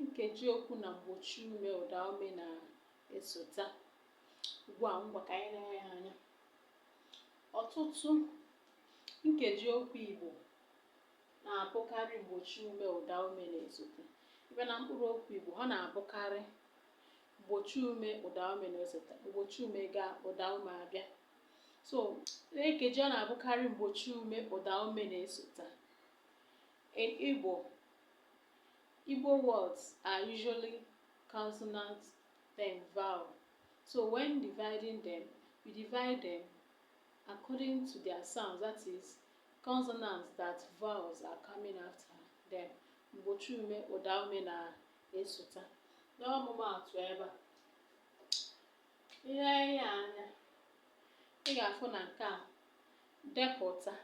nkeji okwu na mgbochi ume ụda ume na-esota ugbu a ngwa ka anyị lee ya anya ọtụtụ nkeji okwu Igbo na-abụkarị mgbochi ume ụda ume na-esota ebe na mkpụrụ okwu Igbo ha na-abụkarị mgbochi ume ụda ume na-esota mgbochi ume gaa ụda ume abịa so nkeji ọ na-abụkarị mgbochi ume ụda ume na-esota Igbo Igbo words are usually consonant then vowel. So when dividing them, we divide them according to their sounds, that is, consonants that vowels are coming after them. Mgbochi ume, ụda ume na-esota. N'ọmụmaatụ ebe a, i lee ya anya, ị ga-afụ na nke a depụta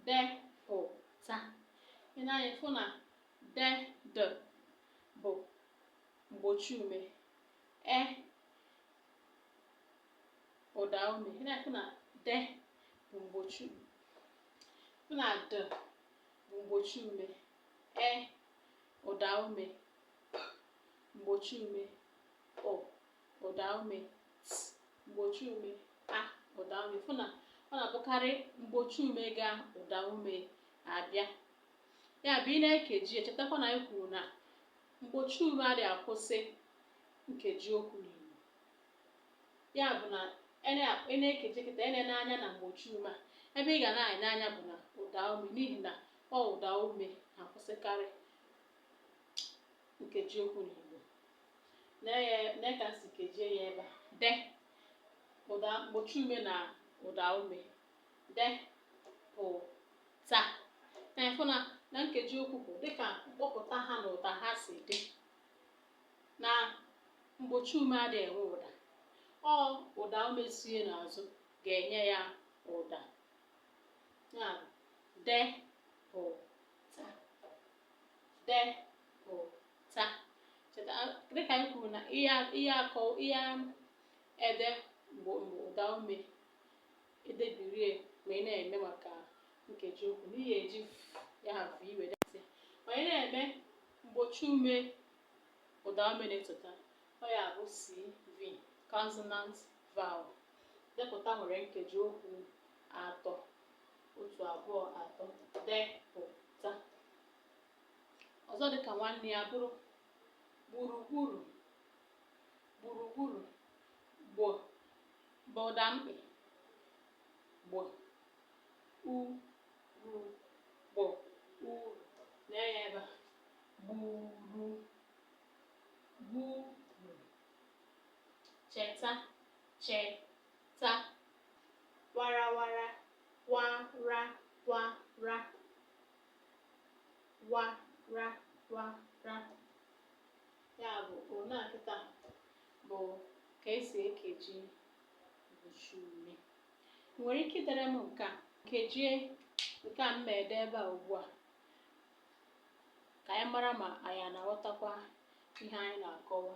depụta i nee anya ị fụ na de de bụ mgbochi ume e ụda ume ị na-afụ na de bụ mgbochi fụ na de bụ mgbochi ume e ụda ume mgbochi ume ụ ụdaume t mgbochi ume a ụdaume fụ na ọ na-abụkarị mgbochi ume gaa ụdaume abịa ya bụ ị na-ekeji chetakwa na anyị kwuru na mgbochi ume adịghị akwụsị nkeji okwu n'Igbo ya bụ na ị na-ekeji kịta enena anya na mgbochi ume a ebe ị ga na-ene anya bụ na ụdaume n'ihi na ọ ụdaume na-akwụsịkarị nkeji okwu n'Igbo ne ka e si kejie ya ebe a de ụda mgbochi ume na ụda ume de pụ ta na ị fụ na na nkeji okwu bụ dịka mkpọpụta ha na ụda ha si dị na mgbochi ume adịghị enwe ụda ọ ụda ume so ya n'azụ ga-enye ya ụda ya de pụ depụta cheta dịka m kwuru na ihe akọ ihe ede mgbe ụda ume edebirie ma ị na-eme maka nkeji okwu n'ihe e ji ya bụ iwe depụta ma ị na-eme mgbochi ume ụda ume na-esota ọ ya bụ cv consonant vowel depụta nwere nkeji okwu atọ otu abụọ atọ depụta ọzọ dịka nwanne ya bụrụ gburugburu gburugburu gb bụ ụda mkpị gb u ru gb u lee ya ebe a gburu gburu cheta cheta ta warawara wara wara wara wara ya bụ one a kịta bụ ka esi ekeji mgbochi ume ị nwere ike idere m nke a kejie nke a m ma ede ebe a ugbu a ka anyị mara ma anyị ana-aghọtakwa ihe anyị na-akọwa